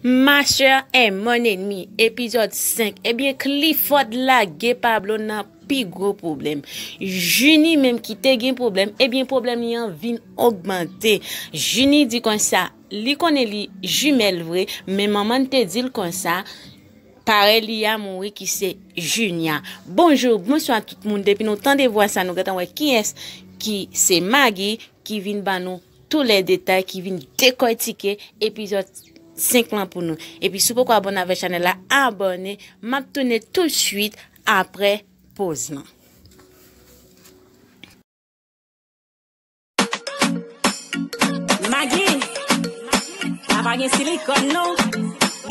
Ma chère en mon ennemi epizòd 5 ebyen Clifford lage Pablo nan pi gwo pwoblèm Junie menm ki te gen pwoblèm ebyen pwoblèm li an vin ogmante Junie di konsa li konnen li jumelle vre men manman n te di l konsa parèy li a mouri ki se Junia Bonjour bonswa tout moun depi nou tande vwa sa nou gentan wè kiyès ki se Maggie ki vin ban nou Tou lè detay ki vin dekòtike epizòd 5 lan pou nou. Epi si w poko abòne avèk chanèl la abòne, m ap tounen tout swit aprè poz lan. Magi, sa pa gen silikòn non,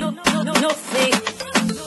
no fake.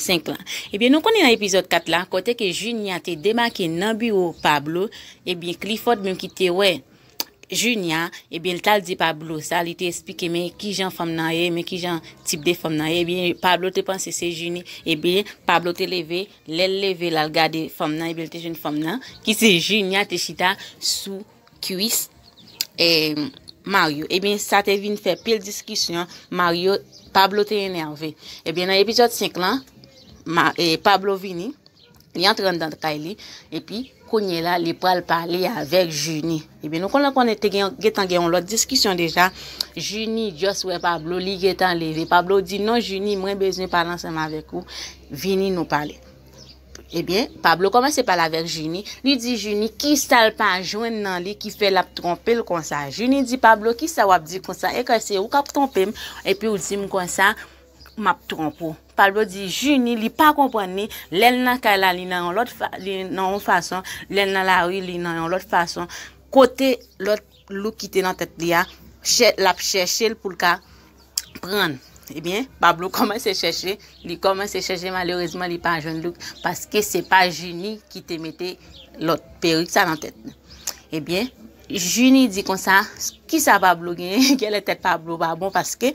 5 lan. Ebyen nou konnen nan epizòd 4 la kote ke Junia te demake nan biwo Pablo, ebyen Clifford menm ki te wè Junia, ebyen li tal di Pablo sa, li te esplike men kijan fanm nan ye, men kijan tip de fanm nan ye, ebyen Pablo te panse se Junie, ebyen Pablo te leve, lèl leve lal gade fanm nan ebyen li te jwenn fanm nan ki se Junia te chita sou kwis e Mario ebyen sa te vin fè pil diskisyon Mario Pablo te enerve ebyen nan epizòd 5 lan e Pablo vini li antre nan kay li epi kounye la li pral pale avèk Junie ebyen nou konnen konnen te gen gen tan gen yon lòt diskisyon deja Junie just wè Pablo li gen tan leve Pablo di non Junie mwen bezwen pale ansanm avèk ou vini nou pale. Ebyen, Pablo kòmanse pale avèk Jini, li di Jini kisa l pa jwenn nan li ki fè l ap twonpe l konsa. Jini di Pablo kisa w ap di konsa, e kè se ou k ap twonpe m epi w di m konsa m ap twonpe w. Pablo di Jini li pa konprann li, lè l nan kay la li nan yon lòt fason, lè l nan lari li nan yon lòt fason, kote lòt. look ki te nan tèt li a chè lap chèchel poul ka prann ebyen Pablo kòmanse chèche li kòmanse chèche malerezman li pa jwenn look paske se pa Junie ki te mete lòt perik sa nan tèt li ebyen Junie di konsa kisa Pablo genyen gèlè tèt Pablo pa bon paske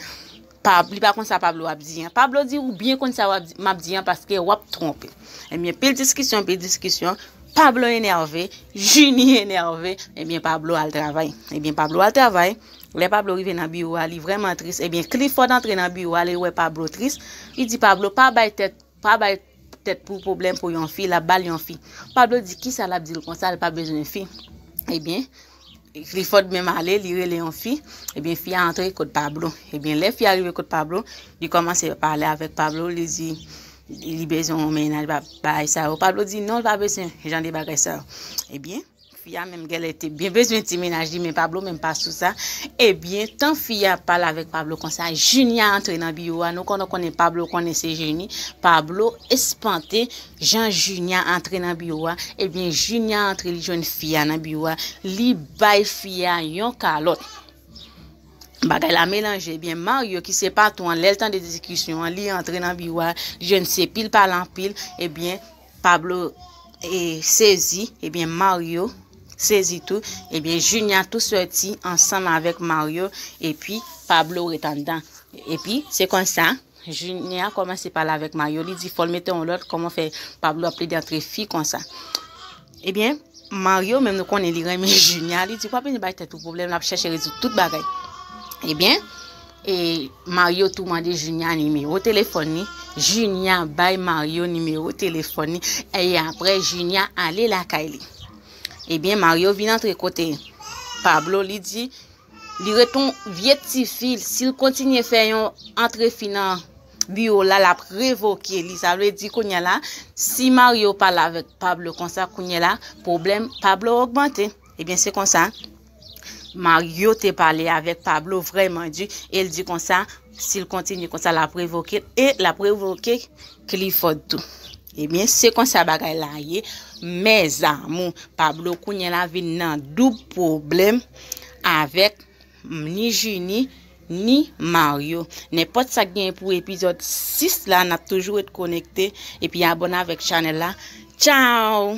Pab, li pa konn sa Pablo ap di an. Pablo di ou byen konn sa wap di, map di an paske wap twonpe. Ebyen pil diskisyon, pil diskisyon, Pablo enève, Junie enève, ebyen Pablo al travay. Ebyen Pablo al travay, lè Pablo rive nan biwo a li vrèman tris, ebyen Clifford antre nan biwo a li wè Pablo tris, li di Pablo pa bay tèt Pa bay tèt pou pwoblèm pou yon fi lap bal yon fi Pablo di kisa lap dil konsa li pa bezwen fi ebyen Clifford menm ale li rele yon fi ebyen fi a antre kot Pablo ebyen lè fi a rive kot Pablo li kòmanse pale avèk Pablo li di li bezwen yon mennaj bay sa yo Pablo di non li pa bezwen jan de bagay sa yo ebyen. Fi a menm gèlè te byen bezwen ti mennaj li men Pablo menm pa sou sa, ebyen tan fi a ap pale avèk Pablo konsa Junia antre nan biwo a nou konn konnen Pablo konnen se jeni, Pablo espante jan Junia antre nan biwo a, ebyen Junia antre li jwenn fi a nan biwo a li bay fi a yon kalòt. Bagay la melanje, ebyen Mario ki se patwon an lèl tande diskisyon an li antre nan biwo a li jwenn se pil pale anpil, ebyen Pablo sezi ebyen Mario sezi tou ebyen Junia tou sòti ansanm avèk Mario epi Pablo ret anndan epi se konsa Junia kòmanse pale avèk Mario li di fòl mete yon lòt kòman fè Pablo ap plede antre fi konsa ebyen Mario menm nou konnen li renmen Junia li di wap vini bay tèt ou pwoblèm lap chèche rezoud tout bagay ebyen. E Mario tou mande Junia nimewo telefòn li, Junia bay Mario nimewo telefòn li, e apre Junia ale lakay li. Ebyen Mario vin antre kote Pablo li di, li ret yon vye tifi, si l kontinye fè yon antre fi nan biwo la, l ap revoke li. Sa vle di kounye la, si Mario pale avèk Pablo konsa, kounye la, pwoblèm Pablo ogmante. Ebyen se konsa. Mario te pale avèk Pablo vrèman di e l di konsa si l kontinye konsa l ap revoke l e l ap revoke Clifford tou. Ebyen eh se konsa bagay la ye mèzamou Pablo kounye la vin nan doub pwoblèm avèk ni Jini ni Mario. Nenpòt sa k gen pou epizòd 6 la n ap toujou ret konekte epi abone avèk chanèl la. Tchao!